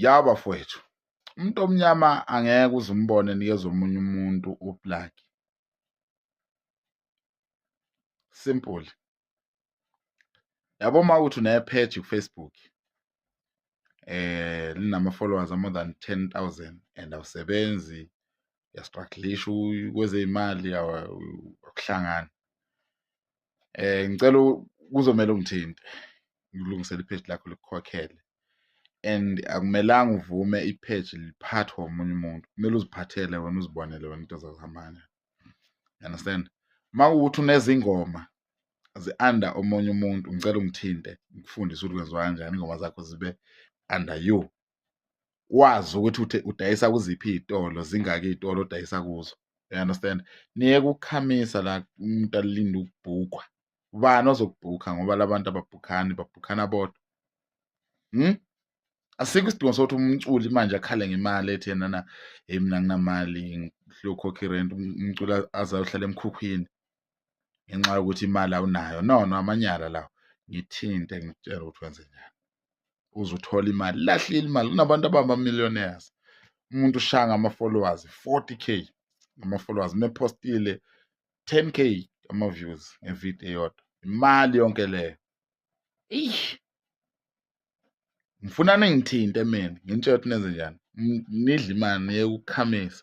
ya bafowethu umuntu omnyama angeke uze umbone nikeza omunye umuntu uplug simple yabo uma ukuthi unepage kufacebook eh linama-followers more than 10000 and awusebenzi uyastrugglisha kwezeyimali akuhlangani eh ngicela kuzomela ungithinte ngilungisele ipage lakho likukhokhele and akumelanga uvume ipage liphathwe omunye umuntu kumele uziphathele wena uzibonele wena into zakuhambana you understand uma kuwukuthi unezingoma zi-under omunye umuntu ngicela ungithinte ngikufundise ukuthi kwenziwa kanjani ingoma zakho zibe under you wazi ukuthi udayisa kuziphi iy'tolo zingaki iy'tolo odayisa kuzo you understand niye kukhamisa la umuntu alinde ukubhukwa ubani ozokubhukha ngoba labantu ababhukhani babhukhana bodwa hmm? asikho isidingo sokuthi umculi manje akhale ngemali ethi yena na hey mina nginamali ngiyokhokha irent umculi azayohlala emkhukhwini ngenxa yokuthi imali awunayo no no amanyala lawo ngithinte ngitshela ukuthi wenze njani uze uthole imali lahlile imali kunabantu abama-millionaires umuntu ushaya ngama-followers 40 k ama-followers mephostile 10 k ama-views ngevidiyo eyodwa imali yonke leyo eish ngifuna ningithinte mina ngintshela ukuthi nenze njani nidle imali niyekukhamisa